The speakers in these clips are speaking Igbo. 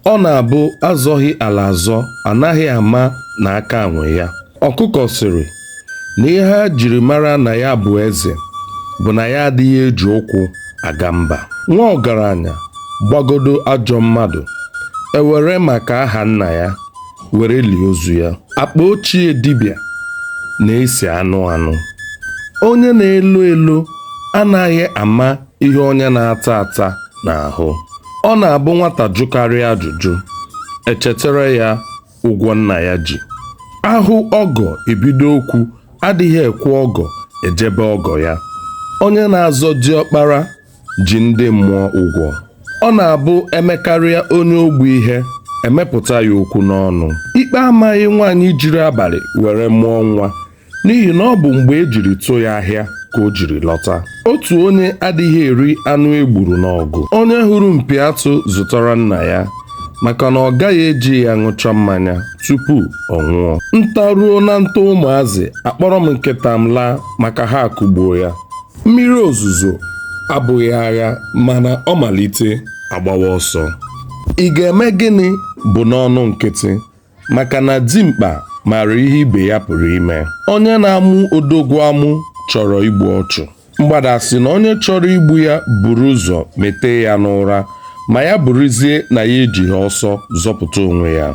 ọ na-abụ azọghị ala azọ anaghị ama na aka nwe ya ọkụkọ sịrị na ihe e jiri mara na ya bụ eze bụ na ya adịghị eji ụkwụ aga mba nwa ọgaranya gbagodo ajọ mmadụ e were maka aha nna ya were lie ozu ya akpa ochie dibịa na-esi anụ anụ onye na-elo elo anaghị ama ihe onye na-ata ata na-ahụ ọ na-abụ nwata jụkarịa ajụjụ e chetara ya ụgwọ nna ya ji a hụ ọgọ e bido okwu adịghị ekwe ọgọ eje be ọgọ ya onye na-azọ diọkpara ji ndị mmụọ ụgwọ ọ na-abụ e mekarịa onye ogbu ihe e mepụta ya okwu n'ọnụ ikpe amaghị nwaanyị jiri abalị were mụọ nwa n'ihi na ọ bụ mgbe e jiri tụ ya ahịa ka o jiri lọta otu onye adịghị eri anụ e gburu n'ọgụ onye hụrụ mpi atụ zụtara nna ya maka na ọ gaghị eji ya ṅụcha mmanya tupu ọ nwụọ nta ruo na nta ụmụazị akpọrọ m nkịta m laa maka ha akụgbuo ya mmiri ozuzo abụghị agha mana ọ malite a gbawa ọsọ ị ga-eme gịnị bụ n'ọnụ nkịtị maka na dimkpa maara ihe ibe ya pụrụ ime onye na-amụ odogwu amụ chọrọ igbu ọchụ mgbada sị na onye chọrọ igbu ya buru ụzọ mete ya n'ụra ma ya bụrụzie na ya ejighị ọsọ zọpụta onwe ya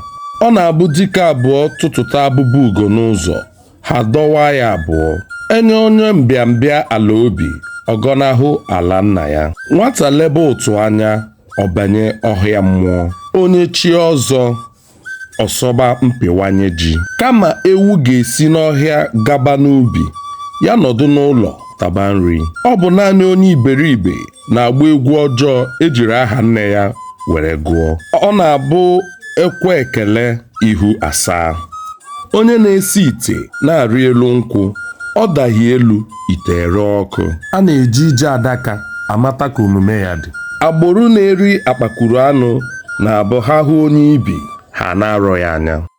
ọ na-abụ dike abụọ tụtụta abụba ugo n'ụzọ ha adọwaa ya abụọ e nye onye mbịambịa ala obi ọ gọnahụ ala nna ya nwata lebe ụtụ anya ọ banye ọhịa mmụọ onye chie ọzọ ọ sọba mpịwanye ji kama ewu ga-esi n'ọhịa gaba n'ubi ya nọdụ n'ụlọ taba nri ọ bụ naanị onye iberibe na-agba egwu ọjọọ e jiri aha nne ya were gụọ ọ na-abụ e kwe ekele ihu asaa onye na-esi ite na-arị elu nkwụ ọ daghị elu ite ere ọkụ a na-eji ije adaka amata ka omume ya dị agboro na-eri akpakuru anụ na-abụ ha hụ onye ibi ha ana-arọ ya anya